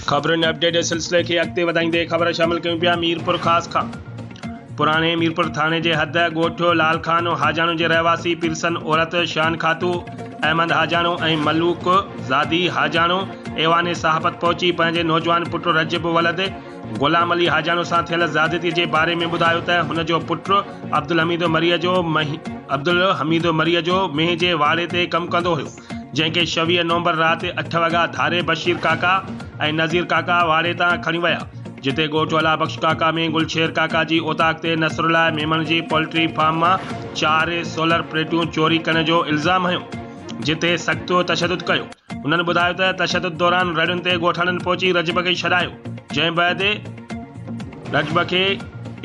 خبرن اپڊيٽ جي سلسلي کي اڳتي وڌائيندي خبر شامل ڪيون پيا ميرپورخاص کان پراڻي ميرپور ٿاڻي جي حد ڳوٺ لال خان حاجاڻو جي رهواسي پيرسن عورت شان خاتو احمد حاجاڻو ۽ ملوڪ زادي حاجاڻو ايوان صحافت پهچي پنهنجي نوجوان پٽ رجب ولد غلام علي حاجاڻو سان ٿيل زيادتي جي باري ۾ ٻڌايو ته هن جو پٽ عبدالحميد مريء جو عبدالحميد مريء جو مينهن جي واڙي تي ڪم ڪندو هيو جنهن کي شويهه نومبر رات جي اٺ وڳا ڌاري بشير ڪاڪا ۽ نذير ڪاڪا واڙي تان کڻي ويا، جتي ڳوٺ ولا بخش ڪاڪا ۾ گلشير ڪاڪا جي اوطاق تي نصرالله ميمڻ جي پولٽري فارم مان چار سولر پليٽون چوري ڪرڻ جو الزام هنيو، جنهن تي سخت تشدد ڪيو. هنن ٻڌايو ته تشدد دوران رڙين تي ڳوٺاڻن پهچي رجب کي ڇڏايو، جنهن بعد رجب کي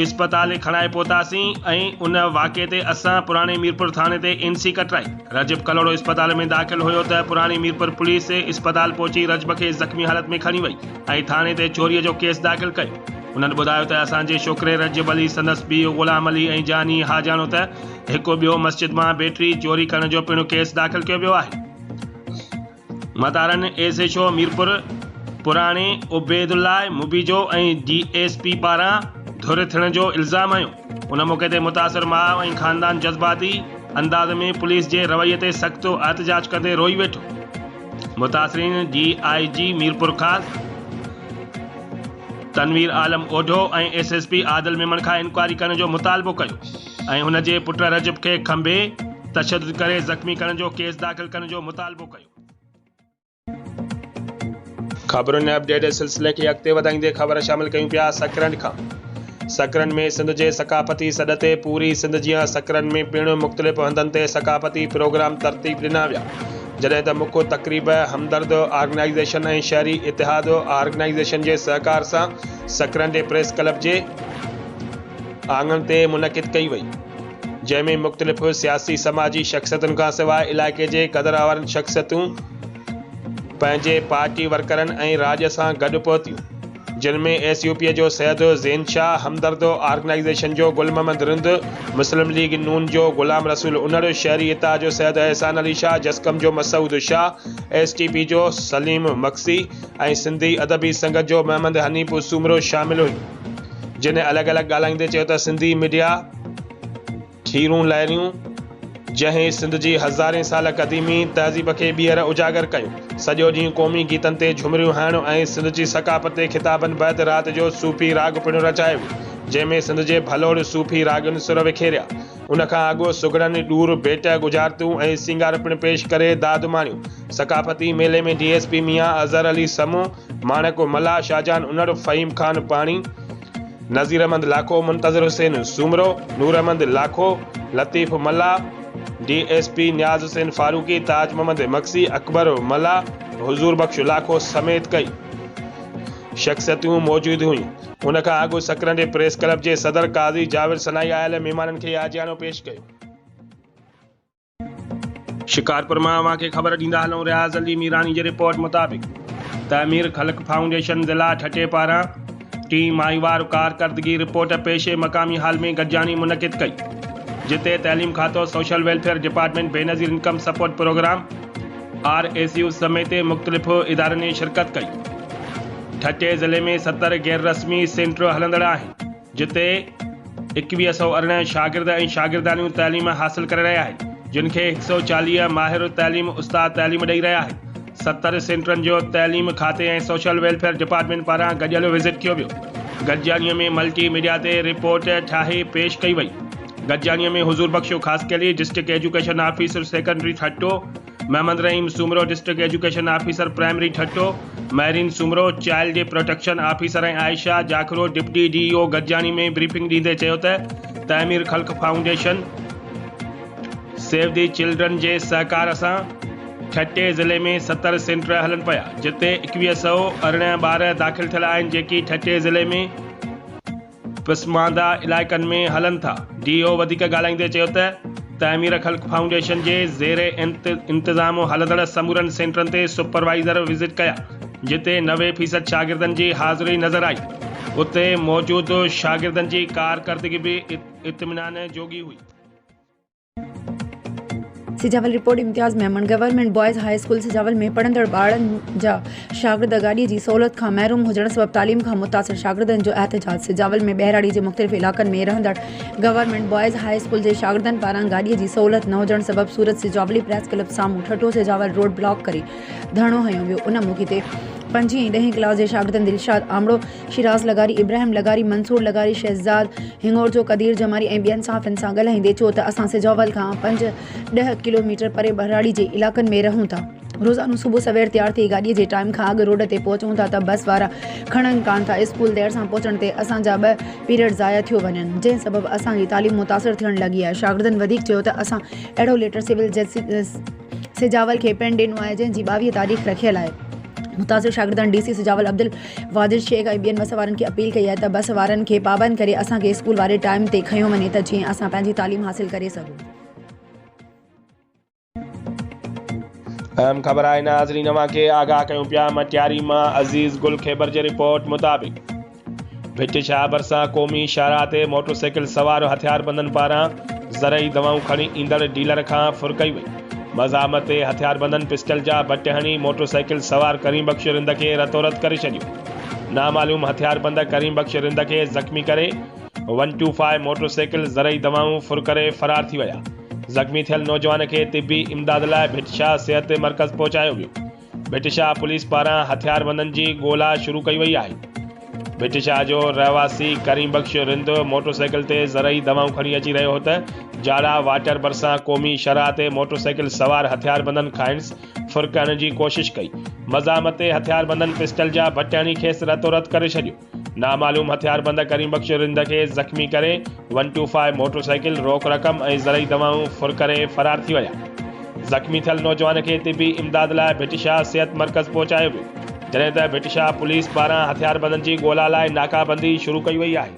اسپتال کڻائي پهتاسين ۽ ان واقعي تي اسان پراڻي ميرپور ٿاڻي تي اين سي ڪٽرائي. رجب ڪلهوڙو اسپتال ۾ داخل هيو ته پراڻي ميرپور پوليس اسپتال پهچي رجب کي زخمي حالت ۾ کڻي وئي ۽ ٿاڻي تي چوريء جو ڪيس داخل ڪيو. انهن ٻڌايو ته اسان جي شوڪري رجب علي، سندس پيء غلام علي ۽ جاني اها ڄاڻو ته هڪ ٻيو مسجد مان بيٽري چوري ڪرڻ جو پڻ ڪيس داخل ڪيو ويو آهي. مدارن ايس ايڇ او ميرپور پراڻي Obaidullah Mubejo ۽ D S P پاران ڌر ٿيڻ جو الزام هنيو، ان موقعي تي متاثر ماء ۽ خاندان جذباتي انداز ۾ پوليس جي رويي تي سخت احتجاج ڪندي روئي ويٺو، متاثرين D I G Mirpurkhas Tanveer Alam Odho ۽ S S P Adil Memon کان انڪوائري ڪرڻ جو مطالبو ڪيو. ۽ هن جي پٽ رجب کي کنڀي تشدد ڪري زخمي ڪرڻ جو ڪيس داخل ڪرڻ جو مطالبو ڪيو. خبرن ۽ اپڊيٽ جي سلسلي کي اڳتي وڌائيندي خبر شامل ڪيون پيا سڪرنڊ کان سڪرنڊ ۾ سنڌ جي ثقافتي سڏ تي پوري سنڌ جيان سڪرنڊ ۾ پڻ مختلف هنڌن تي ثقافتي پروگرام ترتيب ڏنا ويا جڏهن ته مک تقريب همدرد آرگنائيزيشن ۽ شهري اتحاد آرگنائيزيشن جي سهڪار سان سڪرنڊ پريس ڪلب جي آڱڻ تي منعقد ڪئي وئي جنهن ۾ مختلف سياسي سماجي شخصيتن کان سواء علائقي جي قدروارن شخصيتون پنهنجي پارٽي ورڪرن ۽ راڄ سان گڏ پهتيون جن ۾ ايس يو پي جو سيد زين شاهه همدرد آرگنائيزيشن جو گل محمد رند مسلم ليگ نون جو غلام رسول انڙ شهري اتحاد جو سيد احسان علي شاهه جسقم جو Masood Shah S T P جو سليم مگسي ۽ سنڌي ادبي سنگت جو محمد حنيف سومرو شامل هيون. جنھن الڳ الڳ ڳالھائيندي چيو ته سنڌي ميڊيا ٺيرون لاريون جنھن سنڌ جي ھزارين سال قديمي تهذيب کي ٻيھر اجاگر ڪيو سڄو ڏينھن قومي گيتن تي جھمريون ھڻڻ ۽ سنڌ جي ثقافت تي خطابن بعد رات جو صوفي راڳ پڻ رچايو ويو جنھن ۾ سنڌ جي ڀلوڙ صوفي راڳين سر وکيريا ان کان اڳ سگھڙن ڏور ڀيٽ ڳجھارتون ۽ سينگار پڻ پيش ڪري داد ماڻيو ثقافتي ميلي ۾ D S P Mian Azhar Ali Samoon Maniko Mallah, Shahjahan Unar, Faheem Khan Pani, Nazir Ahmed Lakho, Muntazir Hussain Soomro, Noor Ahmed Lakho, Latif Mallah, D S P Niaz Hussain Farooqui, Taj Muhammad Magsi, Akbar Mallah, Huzoor Bux Lakho سميت ڪئي شخصيتون موجود هيون. ان کان اڳ سڪرنڊي پريس ڪلب جي صدر قاضي جاويد سنائي آيل مهمانن کي عاجيانو پيش ڪيو. شڪارپور مان اوهان کي خبر ڏيندا هلون رياض علي ميراڻي جي رپورٽ مطابق تعمير خلق فائونڊيشن ضلع ٺٽي پاران ٽين ماهيوار ڪارڪردگي رپورٽ پيشي مقامي هال ۾ گڏجاڻي منعقد ڪئي جتي تعليم کاتو social welfare department Benazir income support programme R S U سميت مختلف ادارن شرڪت ڪئي ٺٽي ضلعي ۾ ستر غير رسمي سينٽر هلندڙ آهن جتي ايڪويهه سؤ ارڙهن شاگرد ۽ شاگردياڻيون تعليم حاصل ڪري رهيا آهن، جن کي هڪ سؤ چاليهه ماهر تعليم استاد تعليم ڏئي رهيا آهن. ستر سينٽرن جو تعليم کاتي ۽ سوشل ويلفيئر ڊپارٽمينٽ پاران گڏيل وزٽ ڪيو ويو. گڏجاڻيء ۾ ملٽي ميڊيا تي رپورٽ ٺاهي پيش ڪئي وئي. گڏجاڻيء ۾ Huzoor Bux Khaskheli, district education officer secondary Thatta, Muhammad Rahim Soomro district education officer primary Thatta, Mehreen Soomro child protection officer ۽ Ayesha Jakhro deputy D E O گڏجاڻي ۾ بريفنگ ڏيندي چيو ته Tameer Khalq foundation save the children جي سهڪار سان ٺٽي ضلعي ۾ ستر سينٽر هلن پيا جتي ايڪويهه سئو ارڙهن ٻار داخل ٿيل آهن جيڪي ٺٽي ضلعي ۾ پسمانده علائقن ۾ هلن ٿا. ڊي او وڌيڪ ڳالهائيندي چيو ته تعمير خلق فائونڊيشن جي زير انتظام هلندڙ سمورن سينٽرن تي سپروائيزر وزٽ ڪيا جتي نوي فيصد شاگردن جي حاضري نظر آئي اتي موجود شاگردن جي ڪارڪردگي به اطمينان جوڳي هئي. Sujawal report Imtiaz Memon government boys high school Sujawal ۾ پڙهندڙ ٻارڙن جا شاگرد گاڏي جي سهولت کان محروم هجڻ سبب تعليم کان متاثر شاگردن جو احتجاج سجاول ۾ ٻهراڙي جي مختلف علائقن ۾ رهندڙ گورنمينٽ بوائز هاء اسڪول جي شاگردن پاران گاڏي جي سهولت نه هجڻ سبب سورت سجاولي پريس ڪلب سامهون ٺٽو سجاول روڊ بلاڪ ڪري ڌرڻو هنيو ويو ان موقعي تي پنجين ۽ ڏهين ڪلاس جي شاگردن دلشاد آمڙو شيراز لغاري، ابراهيم لغاري، منصور لغاري، شهزاد هڱورجو، قدير جماري ۽ ٻين صحافين سان ڳالهائيندي چيو ته اسان سجاول کان پنج ڏهه ڪلوميٽر پري ٻهراڙي جي علائقن ۾ رهون ٿا. روزانو صبح سوير تيار ٿي گاڏي جي ٽائيم کان اڳ روڊ تي پهچون ٿا ته بس وارا کڻن ڪانه ٿا، اسڪول دير سان پهچڻ تي اسان جا ٻه پيريڊ ضايع ٿيو وڃن، جنهن سبب اسان جي تعليم متاثر ٿيڻ لڳي آهي، شاگردن وڌيڪ چيو ته اسان اهڙو ليٽر سول جج، سجاول کي پڻ ڏنو آهي جنهن جي ٻاويهه تاريخ رکيل آهي متاثر شاگردن ڊي سي سجاول عبدالواجد شيخ ۽ ٻين بس وارن کي اپيل ڪئي آهي ته بس وارن کي پابند ڪري اسان کي اسڪول واري ٽائيم تي کنيو وڃي ته جيئن اسان پنهنجي تعليم حاصل ڪري سگهون. اهم خبر آهي ناظرين اوهان کي آگاهه ڪيون پيا مٽياري مان عزيز گل خيبر جي رپورٽ مطابق. ڀٽ شاهه ڀرسان قومي شاهراهه تي موٽرسائيڪل سوار هٿياربندن پاران زرعي دوائون کڻي ايندڙ ڊيلر کان ڦر ڪئي وئي، مزاحمت تي هٿياربندن پسٽل جا بٽ هڻي موٽرسائيڪل سوار ڪريم بخش رند کي رتوروت ڪري ڇڏيو، نامعلوم هٿياربند ڪريم بخش رند کي زخمي ڪري ون ٽو فائو موٽرسائيڪل زرعي دوائون ڦر ڪري فرار ٿي ويا، زخمي ٿيل نوجوان کي طبي امداد لاء ڀٽ شاهه صحت مرڪز پهچايو ويو. ڀٽشاهه پوليس پاران هٿياربندن جي ڳولا شروع ڪئي وئي آهي. ڀٽشاهه جو رهواسي ڪريم بخش رند موٽرسائيڪل تي زرعي دوائون کڻي اچي رهيو هو ته جاڙا واٽر ڀرسان قومي شاهراهه تي موٽرسائيڪل سوار هٿياربندن کانئس ڦرڪڻ جي ڪوشش ڪئي. مزاحمت تي هٿياربندن پسٽل جا بٽ هڻي کيس رتو رت ڪري ڇڏيو. نامعلوم هٿياربند ڪريم بخش رند کي زخمي ڪري one two five motorcycle, روڪ رقم ۽ زرعي دوائون ڦر ڪري فرار ٿي ويا. زخمي ٿيل نوجوان کي طبي امداد لاء ڀٽ شاهه صحت مرڪز پهچايو ويو، جڏهن ته ڀٽ شاهه پوليس پاران هٿياربندن جي ڳولا لاء ناڪابندي شروع ڪئي وئي آهي.